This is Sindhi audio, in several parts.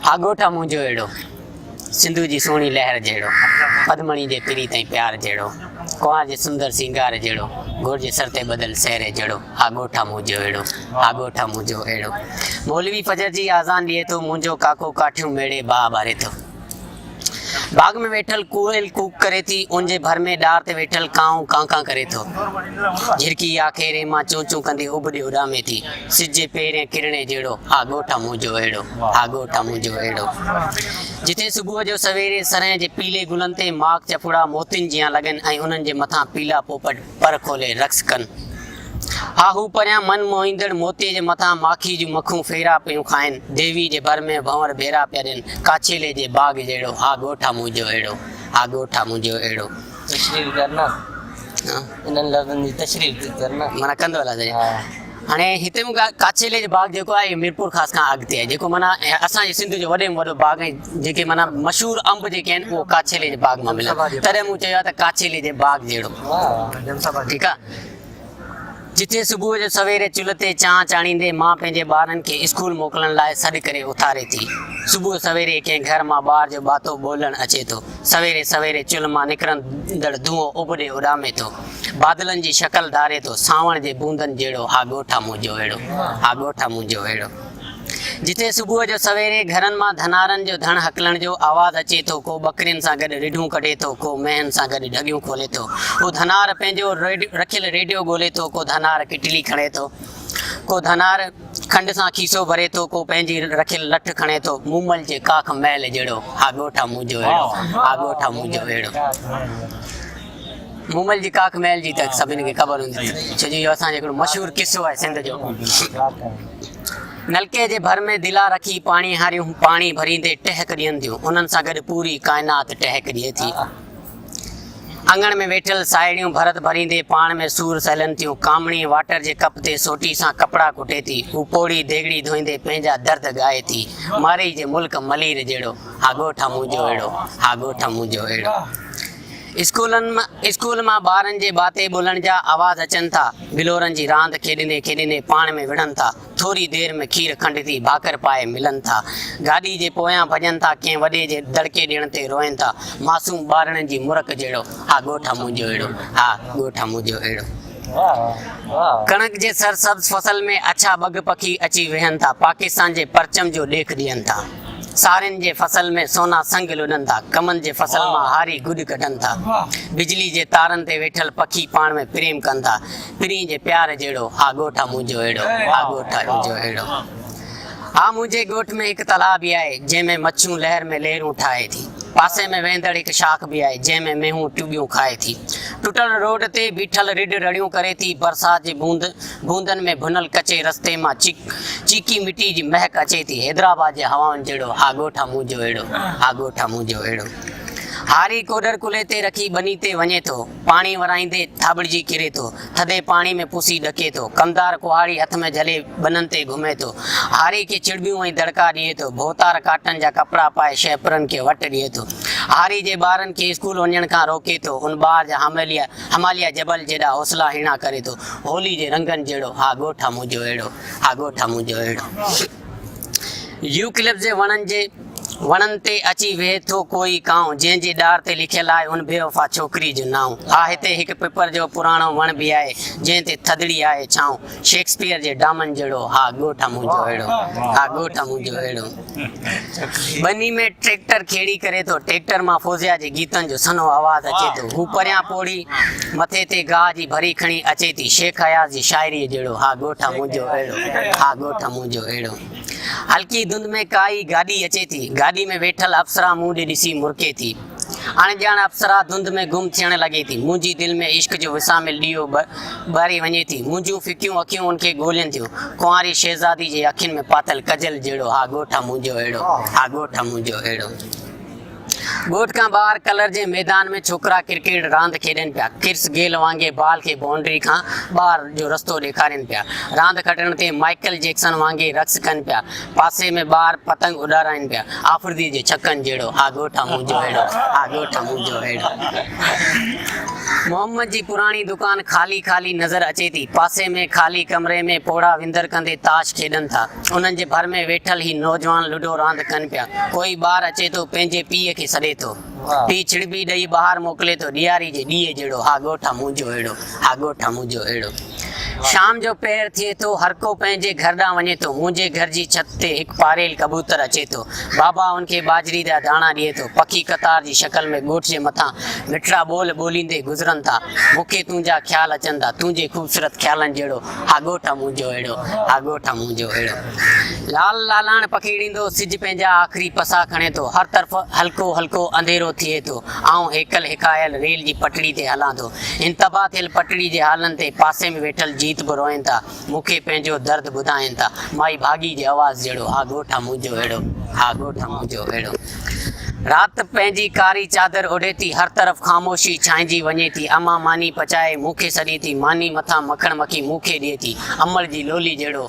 ها ڳوٺ آ منهنجو اهڙو، سنڌوء جي سهڻي لهر جهڙو، پدمڻي جي پريت ۽ پيار جهڙو، ڪنوار جي سندر سينگار جهڙو، گور جي سر تي ٻڌل سهري جهڙو، ها ڳوٺ آ منهنجو اهڙو، ها ڳوٺ آ منهنجو اهڙو. مولوي فجر جي آذان ڏئي ٿو، منهنجو ڪاڪو ڪاٺيون ميڙي باهه ٻاري ٿو. باغ ۾ ويٺل ڪوئل ڪوڪ ڪري ٿي، ان جي ڀر ۾ ڏار تي ويٺل ڪانء ڪان ڪان ڪري ٿو. جهرڪي اها کيرين مان چون چون ڪندي اڀ ڏي اڏامي ٿي. سج جي پهرئين ڪرڻي جهڙو آ ڳوٺ آ منهنجو اهڙو، آ ڳوٺ آ منهنجو اهڙو. جتي صبح جو سويري سرهين جي پيلي گلن تي ماڪ چڦڙا موتين جيان لڳن ۽ انهن جي مٿان پيلا پوپٽ، پر کولي رقص ڪن. ها هو پريان من موهيندڙ موتي جي مٿان ماکي جون مکون ڦيرا پيون کائن، ديوي جي ڀر ۾ ڀنور ڀيرا پيا ڏين، ڪاڇيلي جي باغ جهڙو، ها ڳوٺ آ منهنجو اهڙو، ها ڳوٺ آ منهنجو اهڙو. تشريح ڪرنا، انهن لفظن جي تشريح ڪرنا. معنيٰ ڪندو هلان سڄڻ. هاڻي هتي مون کي ڪاڇيلي جو باغ جيڪو آهي ميرپور خاص کان اڳتي آهي جيڪو معنيٰ اسان جي سنڌ جو وڏي ۾ وڏو باغ ۽ جيڪي معنيٰ مشهور انب جيڪي آهن اهو ڪاڇيلي جي باغ مان ملن تڏهن مون چيو آهي ته ڪاڇيلي جي باغ جهڙو ٺيڪ آهي جتي صبح جو سويري چلهه تي چانهه چاڙهيندي ماء پنهنجي ٻارن کي اسڪول موڪلڻ لاء سڏ ڪري اٿاري ٿي صبح سويري ڪنهن گهر مان ٻار جو ٻاتو ٻولڻ اچي ٿو سويري سويري چلهه مان نڪرندڙ ڌونئو ابڏي اڏامي ٿو بادلن جي شڪل ڌاري ٿو سانوڻ جي بوندن جهڙو ها ڳوٺ آ منهنجو اهڙو ها ڳوٺ آ منهنجو اهڙو جتي صبح جو سويري گهرن مان ڌنارن جو ڌڻ هڪلڻ جو آواز اچي ٿو ڪو ٻڪرين سان گڏ رڍون ڪڍي ٿو ڪو مينهن سان گڏ ڍڳيون کولي ٿو ڪو ڌنار پنهنجو رکيل ريڊيو ڳولي ٿو ڪو ڌنار ڪٽلي کڻي ٿو ڪو ڌنار کنڊ سان کيسو ڀري ٿو ڪو پنهنجي رکيل لٺ کڻي ٿو مومل جي ڪاک محل جهڙو ها ڳوٺ آ منهنجو اهڙو ها ڳوٺ آ منهنجو اهڙو مومل جي ڪاڪ ميل جي ته سڀني کي خبر هوندي ڇو جو اهو اسان جو هڪڙو مشهور قصو آهي سنڌ جو نلڪي جي ڀر ۾ دلا رکي پاڻي هاريون پاڻي ڀريندي ٽهڪ ڏين ٿيون انهن سان گڏ پوري ڪائنات ٽهڪ ڏئي ٿي اڱڻ ۾ ويٺل ساهيڙيون ڀرت ڀريندي پاڻ ۾ سور سهلن ٿيون ڪامڻي واٽر جي ڪپ تي سوٽي سان ڪپڙا ڪٽي ٿي هو پوڙهي ديڳڙي ڌوئيندي پنهنجا درد ڳائي ٿي مارئي جي ملڪ ملير جهڙو ها ڳوٺ منهنجو اهڙو ها ڳوٺ منهنجو اهڙو اسڪول مان ٻارن جي باتي ٻولڻ جا آواز اچن ٿا، بلورن جي راند کيڏندي کيڏندي پاڻ ۾ وڙهن ٿا، ٿوري دير ۾ کير کنڊ ٿي ڀاڪر پائي ملن ٿا، گاڏي جي پويان ڀڄن ٿا ڪنهن وڏي جي دڙڪي ڏيڻ تي روئن ٿا، معصوم ٻارڙن جي مرڪ جهڙو ها ڳوٺ آ منهنجو اهڙو، ها ڳوٺ آ منهنجو اهڙو. ڪڻڪ جي سرسبز فصل ۾ اڇا ٻگهه پکي اچي ويهن ٿا، پاڪستان جي پرچم جو ڏيک ڏين ٿا. سارين جي فصل ۾ سونا سنگ لڏن ٿا، ڪمن جي فصل مان هاري گڏ ڪڍن ٿا، بجلي جي تارن تي ويٺل پکي پاڻ ۾ پريم ڪن ٿا، پرينء جي پيار جهڙو، آ ڳوٺ آ منهنجو اهڙو، آ ڳوٺ آ منهنجو اهڙو. آ منهنجي ڳوٺ ۾ هڪ تلاء به آهي، جنهن ۾ مڇيون لهر ۾ لهرون ٺاهي ٿي، پاسي ۾ وهندڙ هڪ شاخ به آهي، جنهن ۾ مينهون ٽٻيون کائي ٿي، ٽٽل روڊ تي بيٺل رڍ رڙيون ڪري ٿي، برسات جي بوند. گوندن ۾ ڀنل ڪچي رستي مان چيڪ چيڪي مٽي جي مهڪ اچي ٿي حيدرآباد جي هوائن جهڙو ها ڳوٺ ها منهنجو اهڙو ها ڳوٺ ها منهنجو اهڙو هاري ڪوڏر ڪلهي تي رکي ٻني تي وڃي ٿو پاڻي ورائيندي ٿاٻڙجي ڪري ٿو ٿڌي پاڻي ۾ پسي ڏڪي ٿو ڪمدار ڪهاڙي هٿ ۾ جهلي ٻنن تي گهمي ٿو هاري کي چڙٻيون ۽ دڙڪا ڏئي ٿو ڀوتار ڪاٽن جا ڪپڙا پائي شهپرن کي وٽ ڏئي ٿو هاري جي ٻارن کي اسڪول وڃڻ کان روڪي ٿو ان ٻار جا حامليا هماليه جبل جيڏا حوصلا هيڻا ڪري ٿو هولي جي رنگن جهڙو ها ڳوٺ آ منهنجو اهڙو ها ڳوٺ آ منهنجو اهڙو يوڪلپس جي وڻن جي وڻن تي اچي ويهي ٿو ڪوئي ڪانء جنهن جي ڏار تي لکيل آهي ان بيوفا ڇوڪري جو نانء ها هتي هڪ پپر جو پراڻو وڻ به آهي جنهن تي ٿڌڙي آهي ڇانء شيڪسپيئر جي ڊامن جهڙو ها ڳوٺ آ منهنجو اهڙو ها ڳوٺ آ منهنجو اهڙو ٻني ۾ ٽريڪٽر کيڙي ڪري ٿو، ٽريڪٽر مان فوزيا جي گيتن جو سنهو آواز اچي ٿو، هو پريان پوڙهي مٿي تي گاهه جي ڀري کڻي اچي ٿي، شيخ اياز جي شاعريء جهڙو، ها ڳوٺ منهنجو اهڙو، ها ڳوٺ منهنجو اهڙو. هلڪي ڌنڌ ۾ ڪا ئي گاڏي اچي ٿي، گاڏي ۾ ويٺل اپسرا مون ڏي ڏسي مرڪي ٿي. اڻ ڄاڻ اپسرا ڌنڌ ۾ گم ٿيڻ لڳي ٿي، منهنجي دل ۾ عشق جو وساميل ڏيئو ٻاري وڃي ٿي، منهنجيون ڦڪيون اکيون ان کي ڳولين ٿيون، ڪنواري شهزادي جي اکين ۾ پاتل ڪجل جهڙو ها ڳوٺ منهنجو اهڙو، ها ڳوٺ منهنجو اهڙو. ڳوٺ کان ٻاهر ڪلر جي ميدان ۾ ڇوڪرا ڪرڪيٽ راند کيڏين پيا، ڪرس گيل وانگي بال کي بائونڊري کان ٻاهر جو رستو ڏيکارين پيا، راند کٽڻ تي مائيڪل جيڪسن وانگي رقص ڪن پيا، پاسي ۾ ٻار پتنگ اڏارائين پيا. آفريديء جي ڇڪن جهڙو، آ ڳوٺ آ منهنجو هيڙو، آ ڳوٺ آ منهنجو هيڙو. محمد جي پراڻي دڪان خالي خالي نظر اچي ٿي. پاسي ۾ خالي ڪمري ۾ پوڙها وندر ڪندي تاش کيڏن ٿا. انهن جي ڀر ۾ ويٺل هي نوجوان لڊو راند ڪن پيا. ڪوئي ٻار اچي ٿو، پنهنجي پيء کي سڏي ٿو. پيء ڇڙٻي ڏئي ٻاهر موڪلي ٿو ڏياري جي ڏيئي جهڙو ها ڳوٺ آ منهنجو اهڙو ها ڳوٺ آ منهنجو اهڙو شام جو پهر ٿئي ٿو هرڪو پنهنجي گهر ڏانهن وڃي ٿو منهنجي گهر جي ڇت تي هڪ پاريل ڪبوتر اچي ٿو بابا ان کي ٻاجهري جا داڻا ڏئي ٿو پکي قطار جي شڪل ۾ ڳوٺ جي مٿان مٺڙا ٻول ٻوليندي گذرن ٿا مون کي تنهنجا خيال اچن ٿا تنهنجي خوبصورت خيالن جهڙو ها ڳوٺ آ منهنجو اهڙو ها ڳوٺ آ منهنجو اهڙو لال لالاڻ پکيڙيندو سج پنهنجا آخري پسا کڻي ٿو، هر طرف هلڪو هلڪو انديرو ٿئي ٿو، آئون هيڪل هيڪايل ريل جي پٽڙي تي هلان ٿو، هن تباهه ٿيل پٽڙي جي هالن تي پاسي ۾ ويٺل جيت به روئين ٿا، مون کي پنهنجو درد ٻڌائين ٿا، مائي ڀاڳي جي آواز جهڙو، ها ڳوٺ منهنجو اهڙو، ها ڳوٺ منهنجو اهڙو. رات پنهنجي ڪاري چادر اوڍي ٿي، هر طرف خاموشي ڇانئجي وڃي ٿي، امان ماني پچائي مون کي سڏي ٿي، ماني مٿان مکڻ مکي مون کي ڏئي ٿي، امڙ جي لولي جهڙو،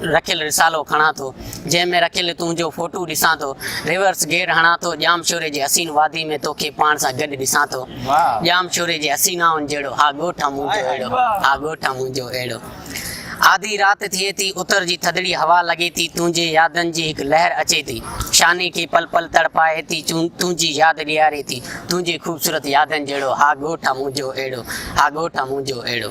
رکيل رسالو کڻان ٿو، جنهن ۾ رکيل تنهنجو فوٽو ڏسان ٿو، ريورس گيئر هڻان ٿو، ڄام شوري جي حسين وادي ۾ توکي پاڻ سان گڏ ڏسان ٿو، ڄام شوري جي حسينائن جهڙو آ ڳوٺ آ منهنجو اهڙو، آ ڳوٺ آ منهنجو اهڙو. آڌي رات ٿئي ٿي، اتر جي ٿڌڙي هوا لڳي ٿي، تنهنجي يادن جي هڪ لهر اچي ٿي، شاني کي پل پل تڙپائي ٿي، تنهنجي ياد ڏياري ٿي، تنهنجي خوبصورت يادن جهڙو آ ڳوٺ آ منهنجو اهڙو، آ ڳوٺ آ منهنجو اهڙو.